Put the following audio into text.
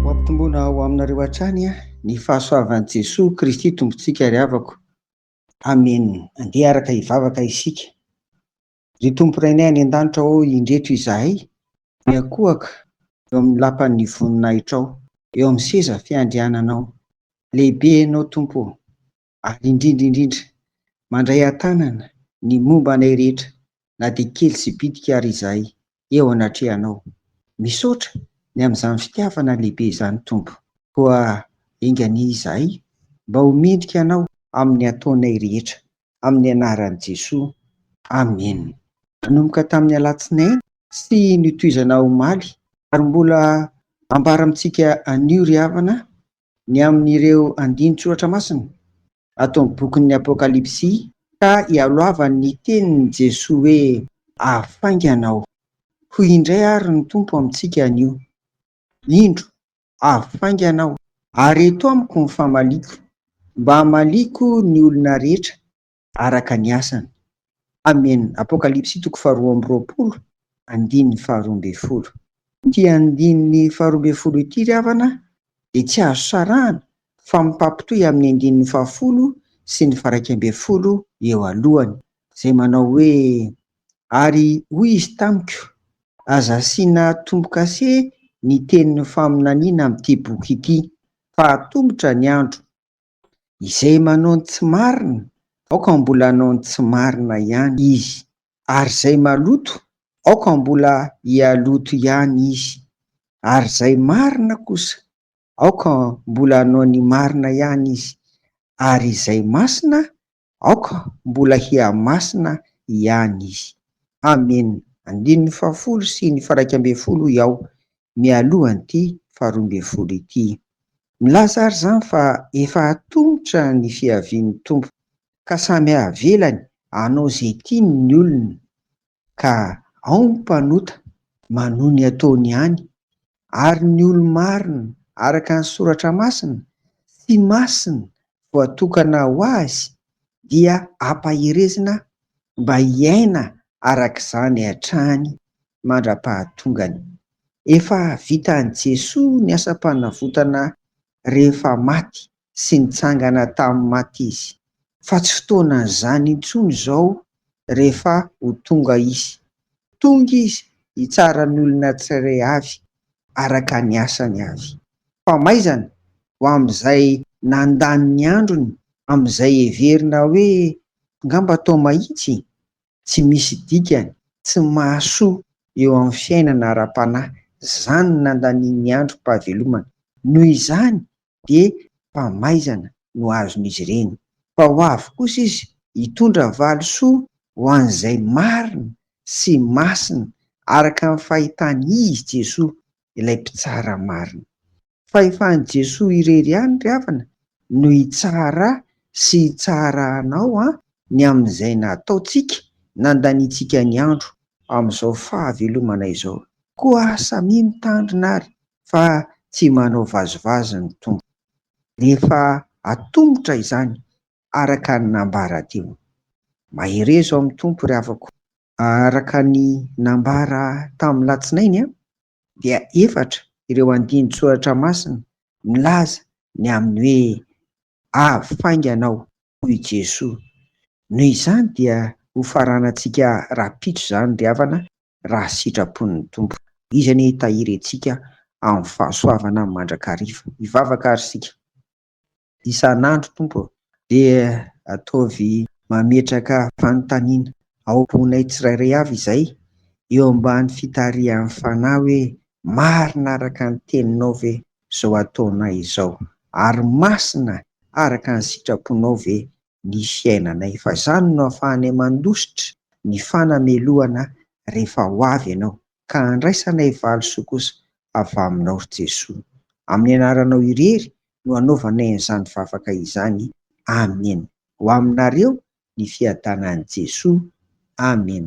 Ho ampitomboina ho aminareo hatrany ny fahasoavan'i Jesoa Kristy Tompontsika ry havako. Amena. Andeha araka hivavaka isika. Ry Tompo Rainay any An-danitra ô, indreto izahay miankohaka eo amin'ny lapan'ny voninahitrao, eo amin'ny seza fiandriananao. Lehibe Ianao Tompo ô! ary indrindra indrindra mandray an-tanana ny momba anay rehetra na dia kely sy bitika ary izahay eo anatrehanao. Misaotra ny amin'izany fitiavana lehibe izany Tompo. Koa enga anie izahay mba ho mendrika anao amin'ny ataonay rehetra, amin'ny anaran'i Jesoa, Amen. Nanomboka tamin'ny alatsinainy sy notohizana omaly ary mbola ambara amintsika anio ry havana ny amin'ireo andinin-tsoratra masina ato amin'ny bokin'ny Apokalypsy ka ialohavany ny tenin'i Jesoa hoe, Afaingana aho. Hoy indray àry ny Tompo amintsika anio, Indro, afaingana aho, ary eto amiko ny famaliako, mba hamaliako ny olona rehetra araka ny asany. Amen. Apokalypsy toko faharoa amby roapolo andininy faharoa ambin'ny folo. Ity andininy faharoa ambin'ny folo ity ry havana dia tsy azo sarahana fa mifampitohy amin'ny andininy fahafolo sy ny faharaika ambin'ny folo eo alohany izay manao hoe, Ary hoy izy tamiko, Aza asiana tombo-kase ny tenin'ny faminaniana amin'ity boky ity, fa hatomotra ny andro Izay manao ny tsy marina, aoka mbola hanao ny tsy marina ihany izy, ary izay maloto, aoka mbola hialoto ihany izy, ary izay marina kosa, aoka mbola hanao ny marina ihany izy, ary izay masina, Aoka mbola hihamasina ihany Izy. Amen. Andininy fahafolo sy ny faraika ambin'ny folo hoy aho, mialohan'ity faharoa ambin'ny folo ity. Milaza ary izany fa efa atomotra ny fiavian'ny Tompo, ka samy avelany hanao izay tiany ny olona. ka ao ny mpanota manohy ny ataony ihany, ary ny olo-marina araka ny Soratra Masina sy masina voatokana ho azy dia ampaherezina mba hiaina araka izany hatrany mandra-pahatongany. Efa vitan'i Jesoa ny asam-panavotana rehefa maty sy nitsangana tamin'ny maty izy, fa tsy fotoanan'izany intsony izao rehefa ho tonga izy. Tonga izy hitsara ny olona tsirairay avy araka ny asany avy. Famaizana ho amin'izay nandany ny androny amin'izay heverina hoe ngamba tao mahitsy? tsy misy dikany, tsy mahasoa eo amin'ny fiainana ara-panahy. Izany no nandanian'ny androm-pahavelomana. Noho izany dia famaizana no azon'izy ireny. Fa ho avy kosa izy hitondra valisoa ho an'izay marina sy masina araka ny fahitany izy, Jesoa, ilay Mpitsara marina. fa efa an'i Jesoa irery ihany ry havana no hitsara sy hitsara anao an ny amin'izay nataontsika nandaniantsika ny andro amin'izao fahavelomana izao koa samia mitandrina ary fa tsy manao vazivazy ny Tompo rehefa atomotra izany araka ny nambara teo mahereza ao amin'ny Tompo ry havako araka ny nambara tamin'ny latsinainy an dia efatra ireo andinin-tsoratra masina milaza ny amin'ny hoe Avy faingana aho, hoy i Jesoa. Noho izany dia ho faranantsika rahampitso izany ry havana raha sitrapon'ny Tompo. Izy anie hitahiry antsika amin'ny fahasoavana mandrakariva. Hivavaka àry isika. isan'andro Tompo ô. Dia ataovy mametraka fanontaniana ao am-ponay tsirairay avy izay eo ambany fitarihan'ny Fanahy hoe marina araka ny Teninao ve izao ataonay izao ary masina araka ny sitraponao ve ny fiainanay fa izany no afahanay mandositra ny fanamelohana rehefa ho avy Ianao. ka handraisanay valisoa kosa avy Aminao, ry Jesoa. Amin'ny Anaranao irery no anaovanay an'izany vavaka izany. Amen. Ho Aminareo ny fiadanan'i Jesoa. Amen.